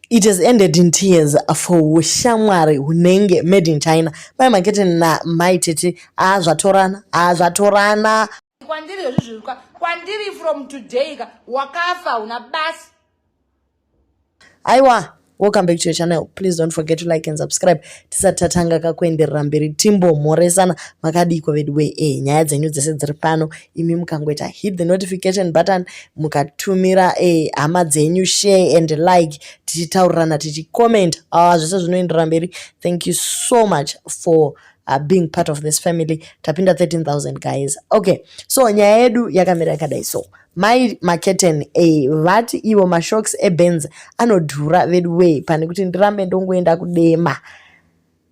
It has ended in tears for ushamwari hunenge made in China. Mai Makete na Mai Tete haa zvatorana haa zvatorana. Kwandiri izvi zviri kwa kwandiri from today ka wakafa una basi. Aiwa welcome back to your channel please don't forget to like and subscribe tisati tatanga kakuenderera mberi timbomhoresana makadiiko veduwe e eh, nyaya dzenyu dzese dziri pano imi mukangoita hit the notification button mukatumira eh, hama dzenyu share and like tichitaurirana tichicomment awa ah, zvese zvinoendera mberi thank you so much for uh, being part of this family tapinda 13000 guys okay so nyaya yedu yakamira yakadai so mai maketen e vati ivo mashocks ebenz anodhura veduwei pane kuti ndirambe ndongoenda kudema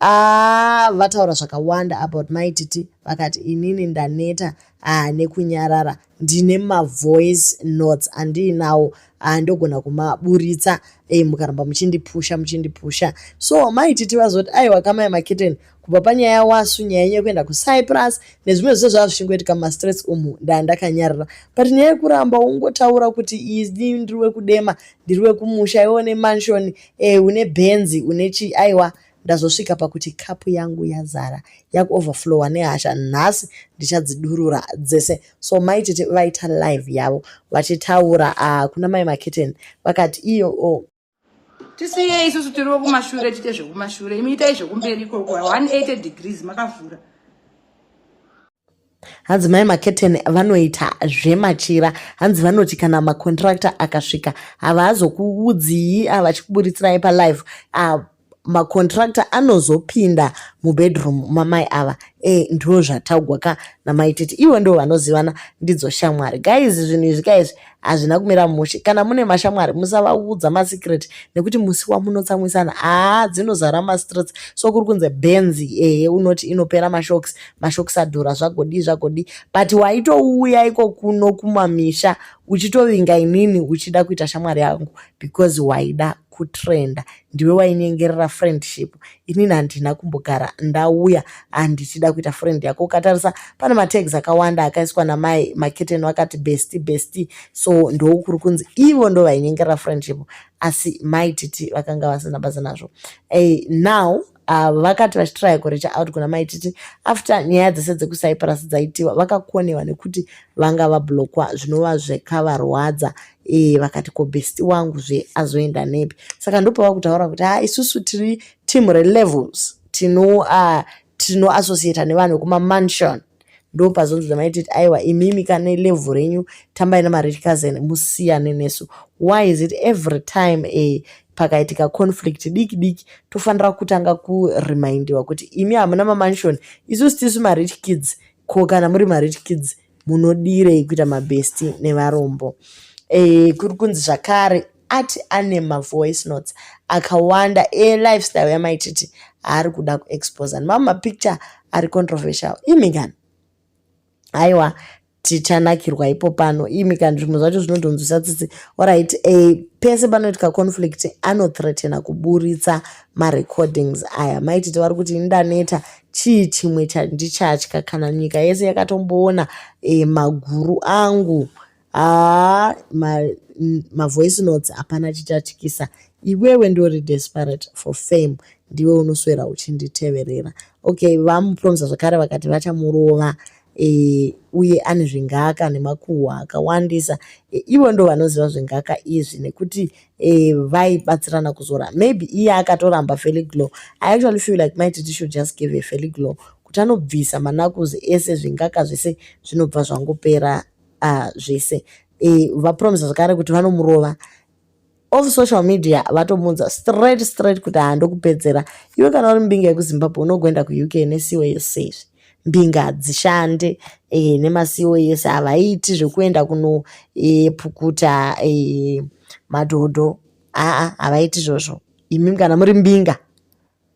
aa vataura zvakawanda about mai titi vakati inini ndaneta aa nekunyarara ndine mavoice notes andiinawo aa ndogona kumaburitsa e mukaramba muchindipusha muchindipusha so mai titi vazoti aiwa kamai makiteni kubva panyaya yawasu nyaya yenyu yekuenda kucyprus nezvimwe zvese zvava zvichingoitika mumastress umu ndaa ndakanyarara but nyaya yekuramba ungotaura kuti ini ndiri wekudema ndiri wekumusha iwe une mansion eh, une benzi une chi aiwa ndazosvika pakuti kapu yangu yazara yakuoverflowa nehasha nhasi ndichadzidurura dzese so mai tete vaita live yavo vachitaura ah, kuna mai maketeni vakati iyo oh, tisiyei isusu tiri vekumashure tiite zvekumashure imi itai zvekumberi ikoko 180 degrees makavhura hanzi mai maketeni vanoita zvemachira hanzi vanoti kana macontracta akasvika havaazokuudzii avachikuburitsirayi ah, palive ah, macontracta anozopinda mubedroom mamai ava e ndo zvataugwa ka namai titi ivo ndo vanozivana ndidzo shamwari guys zvinhu izvi ka izvi hazvina kumira mushe kana mune mashamwari musavaudza masecret nekuti musi wamunotsamwisana haa dzinozara mastreets so kuri kunze benzi ehe unoti inopera mashocks mashocks adhura zvagodii zvagodii but waitouya iko kuno kumamisha uchitovinga inini uchida kuita shamwari yangu because waida kutrenda ndiwe wainyengerera friendship inini handina kumbogara ndauya handichida kuita friend yako ukatarisa pane matags akawanda akaiswa namai maketeni vakati besti besti so ndoukuri kunzi ivo ndo vainyengerera friendship asi mai titi vakanga vasina basa nazvo hey, now avo vakati vachitiraya kurecha out kuna mai titi after nyaya dzese dzekucyprus dzaitiwa vakakonewa nekuti vanga vablokwa zvinova zvekavarwadza e, vakati ko besti wangu zve azoenda nepi saka ndopava kutaura kuti ha isusu tiri team relevels tino uh, tinoassociata nevanhu vekumamansion ndopazonzi dzamai titi aiwa imimi kane level renyu tambai namarich cousin musiyane nesu why is it every time a eh, pakaitika conflict diki diki tofanira kutanga kuremindiwa kuti imi hamuna mamansion isusu tisu marich kids ko kana muri marich kids munodireyi kuita mabesti nevarombo e, kuri kunzi zvakare ati ane mavoice notes akawanda elifestyle yamaititi aari kuda kuexposa nemamwe mapicture ari controversial imi kani haiwa tichanakirwa ipo pano imi kani zvimwe zvacho zvinodhonzwisa tsitsi orit e, eh, pese panoitika conflict anothreatena kuburitsa marecordings aya maititi vari kuti indaneta chii chimwe chandichatya kana nyika yese yakatomboona e, maguru angu haa ma, mm, mavoice notes hapana chichatyisa iwewe ndori desperate for fame ndiwe unoswera uchinditeverera okay vamupromisa zvakare vakati vachamurova e, uye ane zvingaka nemakuhwa akawandisa e, ivo ndo vanoziva zvingaka izvi nekuti e, vaibatsirana kuzora maybe iye akatoramba feliglo i actually feel like my titi should just give a feliglo kuti anobvisa manakuzi ese zvingaka zvese zvinobva zvangopera uh, zvese e, vapromisa zvakare kuti vanomurova of social media vatomuudza straight straight kuti handokupedzera iwe kana uri mbinga yekuzimbabwe unogoenda kuuk nesiwo yese izvi mbinga hadzishande e, nemasiwo yese havaiti zvekuenda kunopukuta e, e, madhodho aa havaiti zvozvo imi kana muri mbinga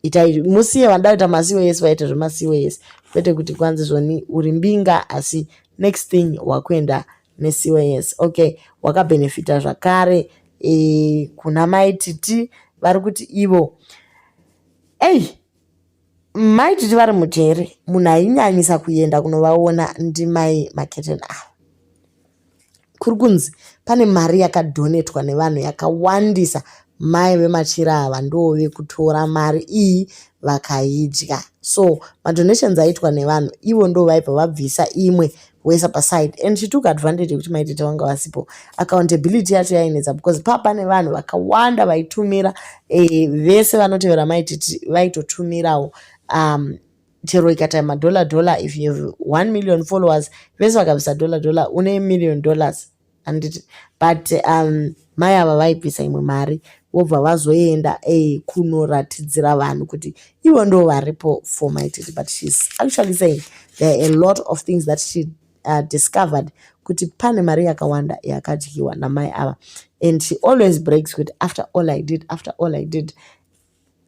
itai musiye vanoda kuita masiwo yese vaite zvemasiwo yese kwete kuti kwanzi zvoni uri mbinga asi next thing wakuenda nesiwo yese okay wakabhenefita zvakare e, kuna mai titi vari kuti ivo ei mai titi vari mujere munhu ainyanyisa kuenda kunovaona ndimai maketeni ava kuri kunzi pane mari yakadhonetwa nevanhu yakawandisa mai vemachira ava ndoo vekutora mari iyi vakaidya so madonations aitwa nevanhu ivo ndo vaipa vabvisa imwe wesa paside and she took advantage yekuti maitete vanga vasipo accountability yacho yainetsa because paa pane vanhu vakawanda vaitumira eh, vese vanotevera maitete vaitotumirawo um, chero ikata madollar dollar if you have one million followers vese vakabvisa dollar dollar une million dollars anditi but um mai ava vaibvisa imwe mari vobva vazoenda e, kunoratidzira vanhu kuti ivo ndo varipo for my titi but shes actually saying there are a lot of things that she uh, discovered kuti pane mari yakawanda yakadyiwa namai ava and she always breaks kuti after all i did after all i did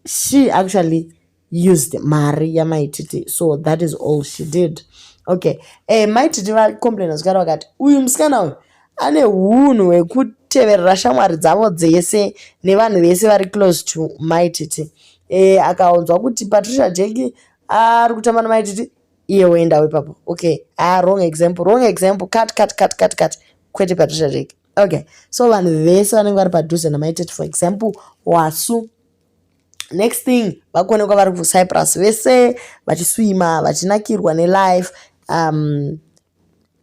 she actually used mari yamaititi so that is all she did okay eh, maititi vacomplaina zvikara vakati uyu musikana uyu ane unhu hwekuteverera shamwari dzavo dzese nevanhu vese vari close to maititi eh, akaonzwa kuti patricia jeki ari kutamba namaititi iye woendawo ipapo okay ah, wrong example wrong example cut cut cut cut cut kwete patricia jeki okay so vanhu vese vanenge vari padhuze namaitete for example wasu next thing vakuonekwa vari kucyprus vese vachiswima vachinakirwa nelife um,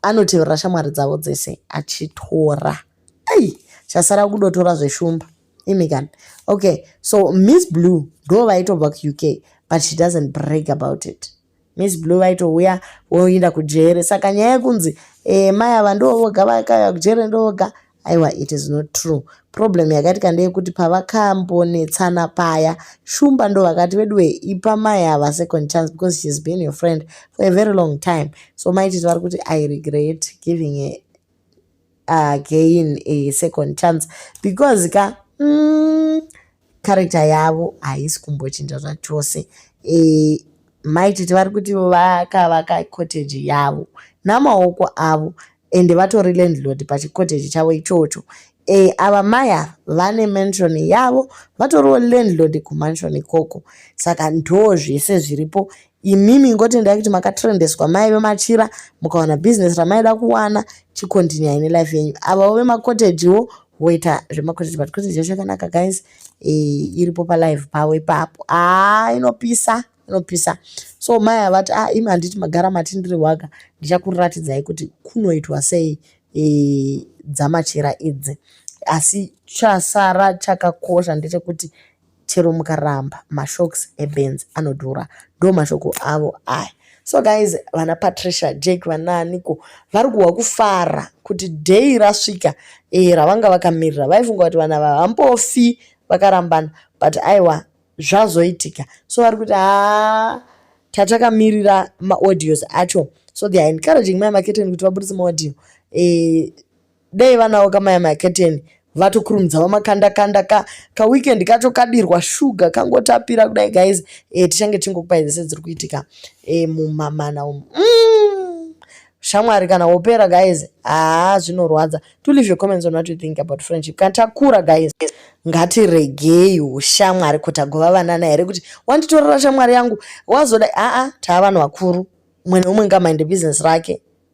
anotevera shamwari dzavo dzese achitora ai chasara kudotora zveshumba imi kani okay so miss blue ndo vaitobva kuuk but she doesn't break about it miss blue vaitouya voinda kujere saka nyaya yekunzi e, mai ava ndovoga vakauya kujere ndovoga aiwa it is not true problem yakaitika ndeyekuti pavakambonetsana paya shumba ndo vakati veduwe ipa mai ava second chance because she's been your friend for a very long time so maititi vari kuti i regret giving a again a second chance because ka mm, character yavo haisi kumbochinja zvachose e, maititi vari kuti vakavaka cottage yavo namaoko avo ende vatori landlord pachicottage chavo ichocho e, ava maya vane mansion yavo vatoriwo landlord kumansion ikoko saka ndoo zvese zviripo imimi ingotendai kuti makatrendeswa maive machira mukawana business ramaida kuwana chikontinyai nelife yenyu avawo vemacottagewo voita zvemacotage but cotage yacho yakanaka guys e, iripo palive pavo ipapo aa ah, inopisa inopisa so mai avati a ah, imi handiti magara mati ndiri waga ndichakuriratidzai kuti kunoitwa sei e, dzamachira idzi asi chasara chakakosha ndechekuti chero mukaramba mashocks ebenz anodhura ndo mashoko avo aya so guys vana patricia jack vanaaniko vari kuhwa kufara kuti dheyi rasvika e, ravanga vakamirira vaifunga kuti vana vava hambofi vakarambana but aiwa zvazoitika so vari kuti haa tatakamirira maaudios acho so they are encouraging mai maketeni kuti vaburitse maaudio e, dai vanawo kamaya maketeni vatokurumidzawo makanda kanda ka ka weekend kacho kadirwa sugar kangotapira kudai guys eh tichange tingokupai dzese dziri kuitika eh mumamana umu mm. shamwari kana wopera guys haa zvinorwadza to leave your comments on what you think about friendship kana takura guys ngatiregei ushamwari kuti agova vanana here kuti wanditorera shamwari yangu wazoda aa taa vanhu vakuru mwana umwe ngamaende business rake